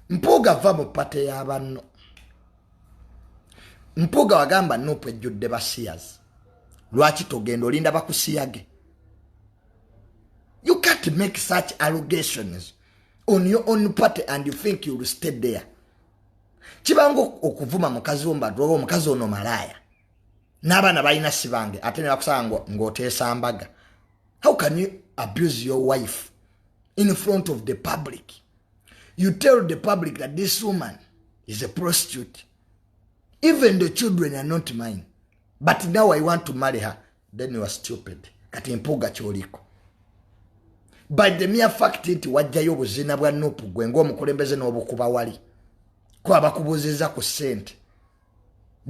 mpuuga va mu pate yabanno mpuuga wagamba nupu ejjudde basiyazi lwaki togenda olinda bakusiyage you can't make such allegations on your own party and you think youll stay there kibanga okuvuma mukazi wombadwa omukazi ono malaaya n'abaana balina sibange ate ne bakusaba ng'oteesa mbaga how can you abuse your wife in front of the public you tell the public that this woman is a prostitute even the children are not mine but now i want to marry her then you are stupid kati mpuga kyoliko by the mere fact nti wajjayo obuzina bwa nupu gwe ngaomukulembeze n'obukuba wali kuba bakubuziza ku sente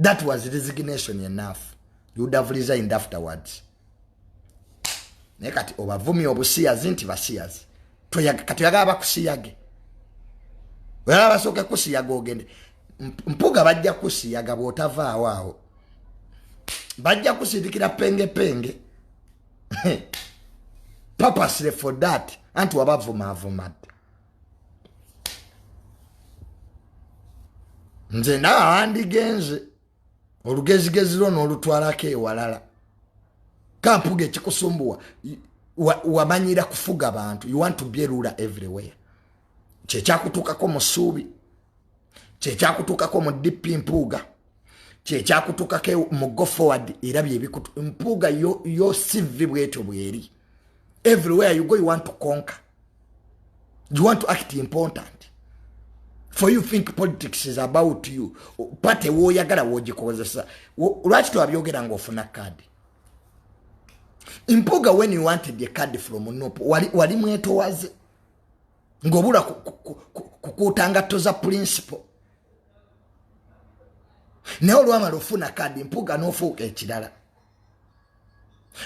that was resignation enough you would have resigned afterwards naye kati obavumi obusiyazi nti basiyazi kati oyagala bakusiyage oyagala basooke kusiyaga ogende mpuga bajja kusiyaga bwotavaawo awo bajja kusindikira penge penge purposely for that anti wabavumaavuma dda nze nawe wandigenze olugezigezi lwo n'olutwalako ewalala kampuga ekikusumbuwa wamanyira kufuga bantu you want to be ruler everywhere kyekyakutuukako mu ssuubi kyekyakutuukako mu dp mpuuga kyekyakutuukako mu go forward era byebikutu mpuuga yo sivi bwetyo bweri everywhere you go you want to conquer you want to act important for you think politics is about you pate woyagala wogikozesa lwaki tewabyogera nga ofuna card mpuga when you wanted a card from nup wali, wali mwetowaze ngobula kukuuta ngatto za principle naye olwamala ofuna kadi mpuga nofuuka ekirala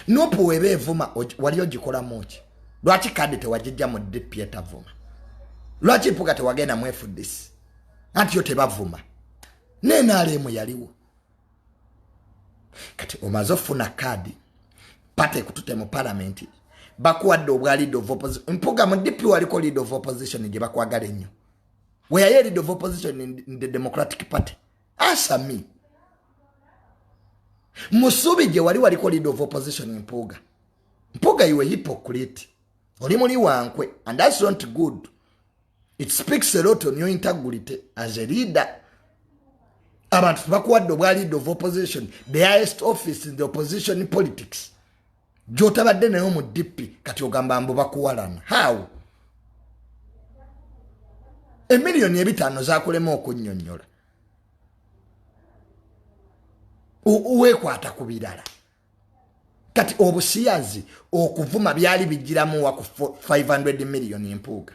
nupu weba evuma wali ogikolamu ki lwaki kadi tewagijja mu dp etavuma lwaki mpuga tewagenda mu fdc anti yo tebavuma nenalemu yaliwo kati omaze ofuna kadi pate kutute mu palamenti bakuwadde obwa lead of opposition mpuga mu dp waliko lead of opposition gye bakwagala ennyo weyayo lead of opposition in the democratic party answer me musubi gye wali waliko lead of opposition mpuuga mpuuga iwe hypocrite oli muli wankwe and that's not good it speaks a lot on your integrity as a leader abantu tebakuwadde obwa lead of opposition the highest office in the opposition politics gyotabadde naye omu dippi kati ogamba mbu bakuwalana how emiliyoni ebitaano zakulema okunyonyola wekwata ku birala kati obusiyazi okuvuma byali bijiramuwa ku 500 miliyoni empuuga